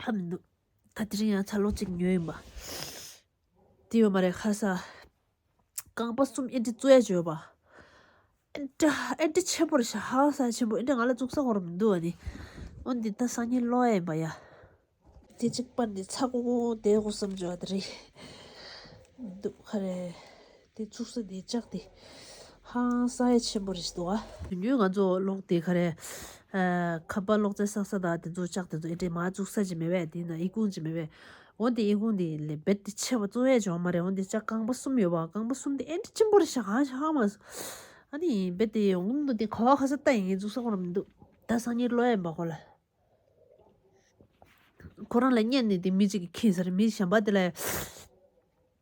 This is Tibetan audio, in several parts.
ཕབ་འདུག་ད་དེ་རིང་ཡང་ཚ་ལོ་གཅིག་ཉོས་ཡིན་པ་དེ་ཡོད་མ་རེད་ཁ་སང་རྐང་པ་གསུམ་ཨེ་འདྲི་གཙོ་ཡ་བྱོས་པ་ཨེ་འདྲ་ཨེ་འདྲ་ཆེན་པོར་བྱ་ཧ་ས་ཆེན་པོ་ཨེ་འདྲ་ང་ལ་བཙུགས་ས་ཧོར་མི་འདུག་བ་ནི་འོན་ཏེ་ད་སང་ཉིན་ལོག་ཡ་ཡིན་པ་ཡ། དེ་གཅིག་པ་ནི་ཚ་གོང་གོང་དེ་གོ་བསམ་བྱོས་བ་དེ་རེད་འདུག་ཧ་རེད། དེ་ཚུགས་ས་དེ་ལྕགས་དེ་ཧང་སངས་ཆེན་པོ་རེད་འདུག་ཨ། དོན་དངོས་ང་ཚོ་ལོག་དེ་ག་རེ། ཁ་པར་ལོག་རྩལ་བསགས་ས་དང་དེ་ཚོ་ལྕགས་དེ་ཚོ་ཨེ་དྲན་མ་བཙུགས་ས་ཅིག་མེད་བས་དེ་ཡིན་ན་ཨི་ཁུང་ཅིག་མེད་བས། འོན་ཏེ་ཨི་ཁུང་དེ་ཡིན་ལེ་བེད་དེ་ཆེ་བ་གཙོ་བས་ཅོག་མ་རེད་འོན་ཏེ་ལྕགས་རྐང་པ་གསུམ་ཡོད་པ་རྐང་པ་གསུམ་དེ་ཨེ་འདྲ་ཆེན་པོ་རེད་ཤག་ཧང་ཧང་མ། ཨ་ནི་བེད་དེ་ཡོང་གི་མི་འདུག་དེ་ཁ་བ་ཁ་ས་ལྟ་ཡིན་ངས་བཙུགས་ས་གོ་ར་མི་འདུག་ད་སང་ཉིན་ལོ་ཡན་པ་ཁོ་ལ། ཁོ་རང་ལ་བསྙད་ནས་དེ་མི་གཅིག་གིས་ཁེངས་ས་རེད་མི་གཞན་པ་དེ་ལ།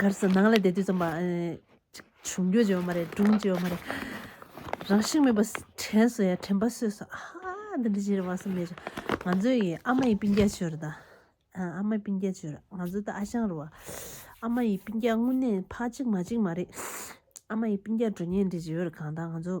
གར་སོང་ནང་ལ་བསྡད་དུས་ཙམ་པ། བྱུང་རྒྱུ་ཅི་ཡོད་མ་རེད་སྒྲུང་ཅི་ཡོད་མ་རེད། རང་བཞིན་མེད་པ་དྲན་སོང་ཡ་དྲན་པ་སོས་སོ་ཨ་ཧ་འདི་འདྲ་ཅི་རེད་བ་སོང་མེད་བྱུང། ང་ཚོ་ཡི་ཨ་མ་ཡི་པིན་རྒྱ་ཅི་ཡོད་རེད་ད། ཨ་མ་པིན་རྒྱ་ཅི་ཡོད་རེད་ང་ཚོ་ད་ཨ་ཞང་རུ་བ། ཨ་མ་ཡི་པིན་རྒྱ་དངོས་གནས་ཕ་གཅིག་མ་གཅིག་མ་རེད། ཨ་མ་ཡི་པིན་རྒྱ་འགྲོ་ཉེན་འདྲེ་ཅི་ཡོད་རེད་གང་ད་ང་ཚོ།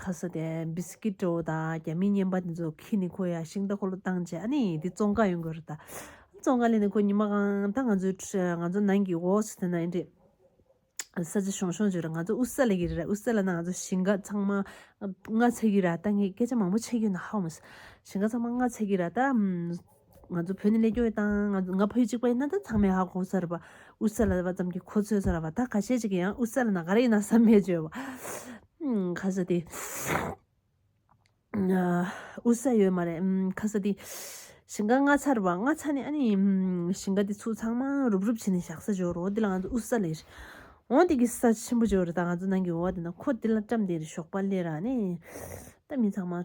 ཁ་ས་དེ་སྦི་སི་ཀི་ཏོ་དང་རྒྱ་མི་སྙན་པ་དེ་ཚོ་ཁི་ནི་ཁོ་ཡ་ཤིང་ཏོ་ཁོ་ལོ་བཏང་རྗེས་ཨ་ནི་དེ་ཙོང་ཁ་ཡོང་གི་རེད་ད། ཙོང་ཁ་ལས་ནི་ཁོ་ཉི་མ་གང་ད་ང་ཚོའི་ང་ཚོ་ནང་གི་འོག་སུ་དེ་ན་ཨེ་འདྲེས། ས་ཆ་ཤོང་ཤོང་བྱོས་ར་ང་ཚོ་ཨུ་ས་ལ་གི་རེད་ཨུ་ས་ལ་ན་ང་ཚོ་ཞིང་ཁ་ཚང་མ་ང་ཚ་གི་ར་ད་ངས་སྐད་ཆ་མང་པོ་འཆད་རྒྱུ་ན་ཧ་མོ། ཞིང་ཁ་ཚང་མ་ང་ཚ་གི་ར་ད། ང་ཚོ་བོད་ནས་ལས་སྐྱོར་ཡོད་དང། ང་བོད་གཅིག་པ་ཡིན་ན་ད་ཚང་མས་ཧ་གོ་ས་རེད་པ། ཨུ་ས་ལ་ལ་བ་ཙམ་གྱིས་ཁོ་ཚོས་ས་ལ་བ་ད་ག་ཤེད་ཅིག་ཡིན་ཡང་ཨུ་ས་ལ་ན་ག་རེ་ཡིན་ན་བསམ་མེད་བྱོས་པ། ཁ་ས་དེ། ཨུ་ས་ཡོད་མ་རེད། ཁ་ས་དེ། ཞིང་ཁ་ངྷ་ཚར་བ་ངྷ་ཚ་ནས་ཨ་ནི། ཞིང་ཁ་དེ་ཚུགས་ཚང་མ་རུབ་རུབ་བྱས་ནས་བཞག་ས་བྱོས་རོགས་དེ་ལ་ང་ཚོ་ཨུ་ས་ལས། འོང་དེ་གི་ས་ཆེན་པོ་བྱོས་རེད་ད་ང་ཚོ་ནང་གི་འོ་བ་དེ་ན་ཁོ་དེ་ལ་བཀྲམ་དེ་རེད་ཞོགས་པ་ལས་ར་ནི། ད་མི་ཚང་མ།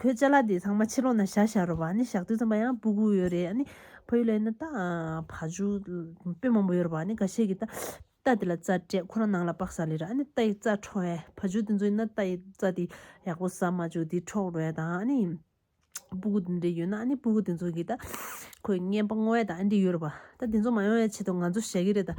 ཁོའི་ལྕེ་ལ་དེ་ཚང་མ་ཕྱི་ལོག་ན་བཞག་བཞག་རོགས་བ་ནི་བཞག་དུས་ཚང་མ་ཡང་སྤུ་གུ་ཡོད་རེད་ཨ་ནི་ཕ་ཡུལ་ལ་ཡིན་ན་ད་ཕ་ཇུ་དཔོན་མང་པོ་ཡོད་རོགས་བ་ནི་ག་ཤེད་ཀྱི་ད་རྟ་དེ་ལ་རྩ་སྤྲད་ཁོ་རང་ནང་ལ་དཔག་ས་ལེ་ར་ཨ་ནི་རྟ་ཡི་རྩ་འཕྲོག་ཨེ་ཕ་ཇུ་དེ་ཚོ་ཡིན་ན་རྟ་ཡི་རྩ་དེ་ཡག་པོ་ཟ་མ་བཅུག་དེ་འཕྲོག་རོལ་དང་ཨ་ནི་སྤུ་གུ་དེ་འདྲ་ཡོད་ན་ཨ་ནི་སྤུ་གུ་དེ་ཚོ་གིས་ད་ཁོའི་རྔན་པ་སྔོ་བས་ད་ཨ་འདྲ་ཡོད་རོགས་བ་ད་དེ་ཚོ་མ་ཡོང་བའི་ཆེད་དུ་ང་ཚོ་བཞག་གི་རེད་ད།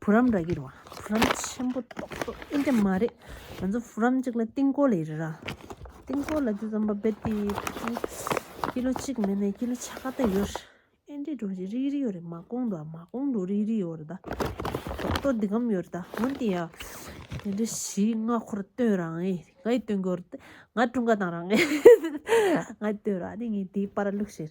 བུ་རམ་ར་གི་རོ་བུ་རམ་ཆེན་པོ་ཏོག་ཏོག་ཨིན་དྲ་མ་རེད་ང་ཚོ་བུ་རམ་གཅིག་ལ་རྟིང་སྐོར་ལས་རེད་ར་རྟིང་སྐོར་ལ་དེ་ཙམ་པ་བེད་དེ་ཀི་ལོ་གཅིག་མེད་ནས་ཀི་ལོ་ཆ་ག་ད་ཡོད་རེད་ཨིན་དྲའི་གྲོ་ཞིག་རིག་རིག་ཡོད་རེད་མ་ཀོང་གྲོ་མ་ཀོང་གྲོ་རིག་རིག་ཡོད་རེད་ད་ཏོག་ཏོག་འདི་གམ་ཡོད་རེད་ད་འོན་ཏེ་ཡ་དེ་འདྲ་ཞིག་ང་ཁོར་སྟོན་རང་ཨེ་ང་ཡི་སྟོན་གོ་རེད་ང་ཀྲུང་ག་དང་རང་ཨེ་ང་ཡི་སྟོན་ར་དེ་ངའི་དེ་པར་ལུགས་ཤེར་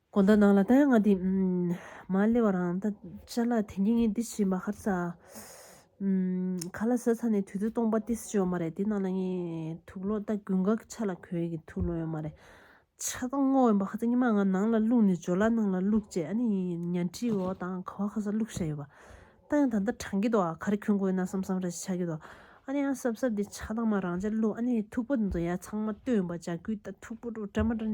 གོ་ད་ནང་ལ་ད་ཡ་ང་དེ་མ་སླེ་བ་རང་ད་ཅར་ལ་དེ་ངེ་ངེ་དེ་བྱིན་པ་ཧར་ས་ག་ལ་ཟེར་ས་ནས་དུས་ཚོད་སྟོང་པ་ཏི་སི་ཡོད་མ་རེད་དེ་ནང་ལ་ངའི་ཐུགས་ལོ་ད་དགུན་ག་གི་ཆ་ལ་གོས་གི་ཐུགས་ལོ་ཡོད་མ་རེད་ཆ་ད་སྔོ་ཡོད་པ་ཧ་ད་ཉི་མ་ང་ནང་ལ་བླུག་ནས་འཇོ་ལ་ནང་ལ་བླུག་རྗེས་ཨ་ནི་ཉལ་ཁྲི་འོག་དང་ག་བ་ཧ་ས་བླུག་ཤ་ཡོད་པ་ད་ཡང་ད་ད་དྲང་གི་འདུག་ཨ་ག་རེ་གྱོན་གོ་ཡོད་ན་བསམ་བསམ་རེ་ཆག་གི་འདུག་ཨ་ནི་ཨ་སབ་སབ་དེ་ཆ་ད་མ་རང་ཅར་བླུག་ཨ་ནི་ཐུགས་པོ་དེ་ཚོ་ཡ་ཚང་མ་སྟོན་པ་ཇག་གུས་ད་ཐུགས་པོ་རུ་ཏྲ་མ་ཏྲ།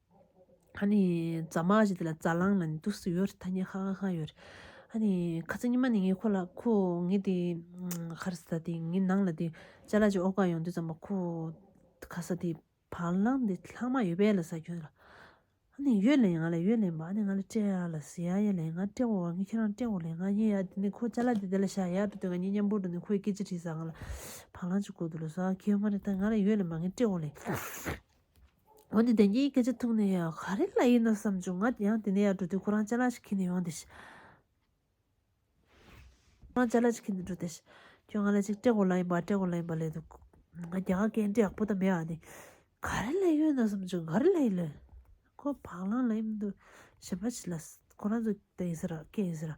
ཨ་ནི་རྫ་མ་ཞེས་དེ་ལ་རྫ་གླང་ལ་ནི་དུག་གསུམ་ཡོད་ཐ་སྙད་ཁག་ཁག་ཡོད། ཨ་ནི་ཁ་ཚ་ཉི་མ་ནི་ངའི་ཁོ་ལ་ཁོ་ངའི་དེ་ཁར་ས་དེ་ངའི་ནང་ལ་དེ་ལྕེ་ལ་ཅིག་ཨོག་ག་ཡོང་དུས་ཙམ་མ་ཁོ་ཁ་ས་དེ་བ་ལང་དེ་ལྷག་མ་ཡོད་པས་ལ་ས་ཁྱོད་ལ་ཨ་ནི་ཡོད་ལན་ང་ལ་ཡོད་ལན་པ་ཨ་ནི་ང་ལ་སྤྲད་ཡ་ལ་ཟེ་ཡ་ཡ་ལན་ང་སྤྲད་འོ་བ་ངས་ཁྱེད་རང་སྤྲད་འོ་ལན་ང་ཉན་ཡ་དེ་ནི་ཁོ་ལྕེ་ལ་དེ་དེ་ལ་བཞག་ཡ་དུས་དེ་ང་ཉན་མཉམ་པོར་དུ་ནི་ཁོས་སྐད་ཅིག་དྲིས་ས་ང་ལ་བ་ལང་ཅིག་དགོས་འདུག་ལ་ཟ་ཁྱོད་མ་རེད་ད་ང་ལ་ཡོད་ལན་པ་ངས་སྤྲད་འོ་ལན། འོན་ཏེ་བདེན་གཉིས་སྐད་ཆ་ཐུག་ནས་ཡང་ག་རེ་ལ་ཡིན་ནོ་བསམ་བྱུང་ང་ཡང་དེ་ནས་ཡར་འགྲོ་དུས་ཁོ་རང་ཅག་ལ་ཞིག་ཁྱེར་ནས་ཡོང་སྟེ། ཁྱོད་ང་ལ་ཅིག་སྤྲད་དགོས་ལ་ཡིན་པ་སྤྲད་དགོས་ལ་ཡིན་པ་ལས་འདུག་ང་རྒྱ་གར་གའི་འདྲེ་ཡག་པོ་དང་མེད་ཨ་ནི། ག་རེ་ལ་ཡོད་ནོ་བསམ་བྱུང་ག་རེ་ལ་ཡིན་ལོས། ཁོ་བག་ལངས་ལ་ཡིན་འདུག་བྱས་པ་ཆི་ལ། ཁོ་རང་ཚོ་དེ་ཡིན་ཟེར་ར་སྐད་ཡིན་ཟེར་ར།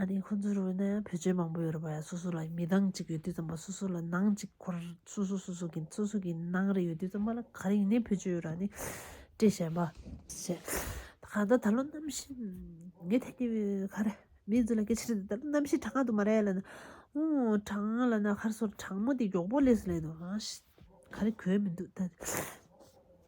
ཨ་ནི་ཁོ་ཚོའི་རུ་བའི་ནང་ཡང་བོད་ཆས་མང་པོ་ཡོད་རེད་བ་ཡ་སོ་སོ་ལ་མི་ལྡང་གཅིག་ཡོད་དུས་ཙམ་པ་སོ་སོ་ལ་ནང་གཅིག་འཁོར་སོ་སོ་སོ་སོ་གི་སོ་སོ་གི་ནང་རེ་ཡོད་དུས་ཙམ་པ་ལ་ག་རེ་ཡིན་ནའི་བོད་ཆས་ཡོད་ར་ནི་བཀྲེས་ཤེས་པ། ཞེས་ད་ག་ད་ད་ལོ་གནམ་གཤིས་ངས་ཐད་ཀྱི་ག་རེ་མི་ཡིན་ཚོད་ལ་སྐད་ཆ་རེད་ད་ལོ་གནམ་གཤིས་གྲང་ང་དུ་མ་རེད་ལ་ནི་ཨོའོ་གྲང་ང་ལ་ནི་ཁར་སོར་གྲང་མོ་དེ་མགྱོགས་པོ་ལས་སུ་ལེན་ནོ་ཧ་ཤི་ག་རེ་གོས་མི་འདུག་ད།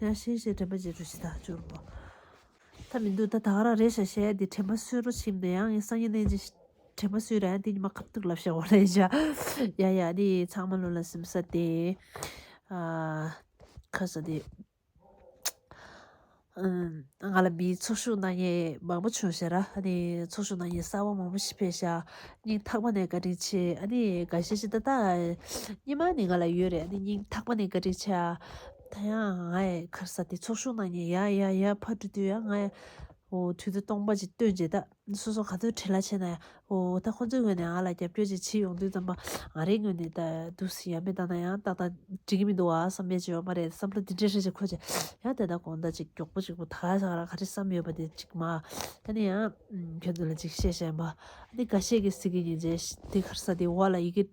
ཡང་ཤེས་བྱའི་དྲན་པ་བརྗེད་འགྲོ་ཞེ་ཐག་གཅོད་པོ་ད་མི་འདུག་ད་ད་རང་རེད་ཤག་ཤེས་དེ་དྲན་པ་གསོད་རོགས་ཕྱིན་དུ་ཡང་ངས་སང་ཉིན་གནས་རྗེས་དྲན་པ་གསོད་རན་དེ་ཉི་མ་ཁབ་ཐུག་ལབ་ཤག་འོ་ལེ་ཤག་ཡ་ཡ་དེ་ཚང་མ་ལོ་ལ་སིམ་ས་དེ་ཨ་ཁ་ས་དེ་ང་ལ་མིའི་ཚོགས་ཞུགས་གནང་ཡས་མང་པོ་བྱུང་ཤག་ར་ཨ་ནི་ཚོགས་ཞུགས་གནང་ཡས་གསར་བ་མང་པོ་ཞིག་ཕེབས་ཤག་སྙིང་ཐག་པ་ནས་བཀའ་དྲིན་ཆེ་ཨ་ནི་དགའ་ཤེས་ཤེས་ད་ད་ཉི་མ་ནས་ང་ལ་ཡོད་རེད་ཨ་ནི་སྙིང་ཐག་པ་ནས་བཀའ་དྲིན་ཆེ་ཨ། ད་ཡང་ང་ཡི་ཁར་ས་དེ་ཚོགས་ཤུགས་ནང་ཉལ་ཡག་ཡག་ཡག་ཕར་འགྲོ་དུས་ཡང་ང་ཡི་འོ་དུས་ད་སྟོང་པ་ཅིག་སྟོན་བྱེད་ད་སོ་སོ་ག་ཚོད་བྲེལ་ལ་ཆས་ན་ཡག་འོ་ད་ཁོ་ཚོའི་ངོས་ནས་ང་ལ་རྒྱབ་སྐྱོར་ཅིག་བྱེད་ཡོང་དུས་ཙམ་པ་ང་རའི་ངོས་ནས་ད་འདུག་ཟེར་ཡ་མེད་ད་ན་ཡང་ཏག་ཏག་འགྲིག་གི་མི་འདུག་བ་བསམ་ཡས་ཅིག་ཡོད་མ་རེད་བསམ་བློ་འདི་འདྲས་ཧྲིལ་ཅིག་འཁོར་ཅིག་ཡང་དེ་ད་དགོངས་དག་ཅིག་མགྱོགས་པོ་ཅིག་པོ་ད་ག་ས་ག་རང་ག་རེ་བསམ་ཡོད་པ་དེ་ཅིག་མ་ད་ནི་ཡང་ཁྱོད་ཚོ་ལ་ཅིག་བཤད་བཤད་འབའ་ནི་ག་བཤད་གི་ཟིག་གི་ཉིན་བྱས་དེ་ཁར་ས་དེ་འོག་ལ་ཡི་གེ།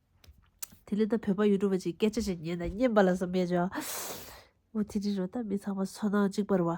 དེ་ལས་ད་བོད་པ་ཡུལ་གྲུ་པ་གཅིག་སྐད་ཆ་ཞིག་ཉན་དང་སྙན་པ་ལ་བསམ་མེད་བྱ། འོ་དེ་འདྲའི་རོ་ད་མི་ཚང་མ་སོ་ནང་གཅིག་པར་བ།